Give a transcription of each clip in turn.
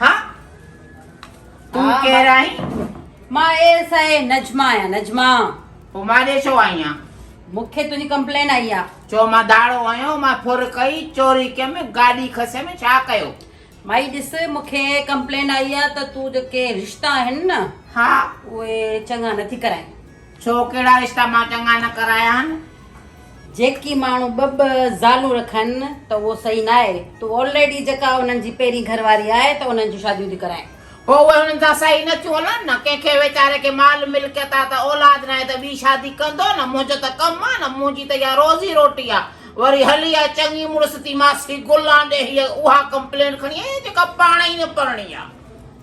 ها تون ڪير آهين؟ مان اي ايس آء نجما آهيان نجما پو مان ڏي ڇو آئي آهيان؟ مون کي تنهنجي ڪمپلين آئي آ. چو مان داڙو هنيو مان ڦر ڪئي چوري ڪيم گاڏي کسيم ڇا ڪيو؟ مائي ڏس مون کي ڪمپلين آئي آ ته تون جيڪي رشتا آهن نه ها اهي چڱا نٿي ڪرائين ڇو ڪهڙا رشتا مان چڱا نه ڪرايان. جيڪي ماڻهو ٻه ٻه زالون رکن ته اهو صحيح ناهي تون آلريڊي جيڪا انهن جي پهرين گهر واري آهي ته انهن جون شاديون ٿي ڪرائين. پوء اهي انهن سان صحيح نه ٿيون هلن نه ڪنهن کي ويچاري کي مال ملڪيت آ ته اولاد ناهي ته ٻي شادي ڪندو نه منهنجو ته ڪم آ نه منهنجي ته اها روزي روٽي آ وري هلي آ چڱي مڙس ٿي ماسي گلان ڏي هيء اها ڪمپلينٽ کڻي آئي آ جيڪا پاڻ ئي نه پرڻي آ.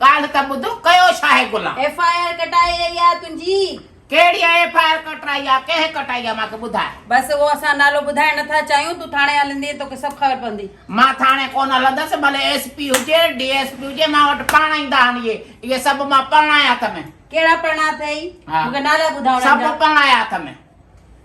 ڳالهه ته ٻڌ، ڪيو ڇا آهي غلام؟ ايف آء آر ڪٽائي وئي آهي تنهنجي. ڪهڙي ايف آء آر ڪٽرائي آهي، ڪنهن ڪٽائي آهي مان کي ٻڌاء. بس اهو اسان نالو ٻڌائڻ نه ٿا چاهيون، تون ٿاڻي هلندينء توکي سڀ خبر پوندي. مان ٿاڻي ڪونه هلندس، ڀلي ايس پي هجي، ڊي ايس پي هجي، مان وٽ پاڻ ايندا آهن اهي، اهي سڀ مان پرڻايا اٿم. ڪهڙا پرڻا اٿئي؟ مون کي نالا ٻڌاء انهن جا. سڀ پرڻايا اٿم.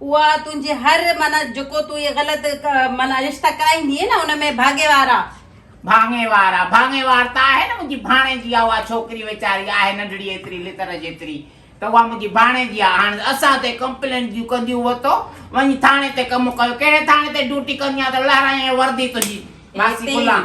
اها تنهنجي هر معنيٰ جيڪو تون اهي غلط معنيٰ رشتا ڪرائيندي نه ان ۾ ڀاڱيوار آ. ڀاڱيوار آ، ڀاڱيوار ته آهي نه منهنجي ڀاڻيجي آ اها ڇوڪري ويچاري آهي ننڍڙي ايتري لتر جيتري ته اها منهنجي ڀاڻيجي آ هاڻ اسان تي ڪمپلين جون ڪنديون وتو وڃ ٿاڻي تي ڪم ڪيو ڪهڙي ٿاڻي تي ڊيوٽي ڪندي آ ته لهرائين هي وردي تنهنجي ماسي گلان.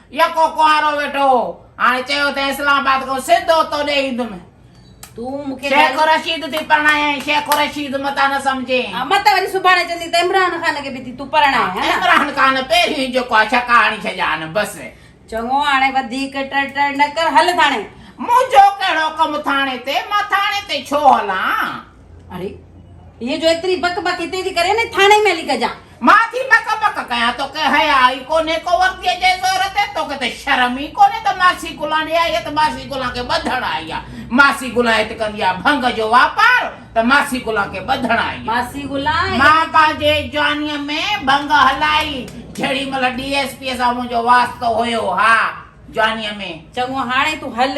يڪو ڪنوارو ويٺو هو. هاڻي چيو ته اسلام آباد کان سڌو توڏي ايندم. تون مون کي شيخ رشيد ٿي پرڻايائين، شيخ رشيد متان نه سمجهين. ها مت وري سڀاڻي چوندين ته عمران خان کي به ٿي تون پرڻائين، ها نه؟ عمران خان پهريون جيڪو آهي ڇڪا هڻي ڇڏيان، بس. چڱو هاڻي وڌيڪ ٽڙ ٽڙ نه ڪر، هل ٿاڻي. منهنجو ڪهڙو ڪم ٿاڻي تي، مان ٿاڻي تي ڇو هلان؟ اري هيء جو ايتري بڪ بڪ هتي ٿي ڪرين ۽ ٿاڻي ۾ هلي ڪجان. مان ٿي بڪ بڪ ڪيان توکي حياء ئي ڪونهي ڪو ورديء جي زور تي توکي ته شرم ئي ڪونهي ته ماسي گلاڻي آئي آهي ته ماسي گلان کي ٻڌڻ آئي آهي ماسي گلان هت ڪندي آهي ڀنگ جو واپار ته ماسي گلان کي ٻڌڻ آئي آهي ماسي گلان مان پنهنجي جوانيء ۾ ڀنگ هلائي جهڙي مهل ڊي ايس پيء سان منهنجو واسطو هيو ها جوانيء ۾. چڱو هاڻي تون هل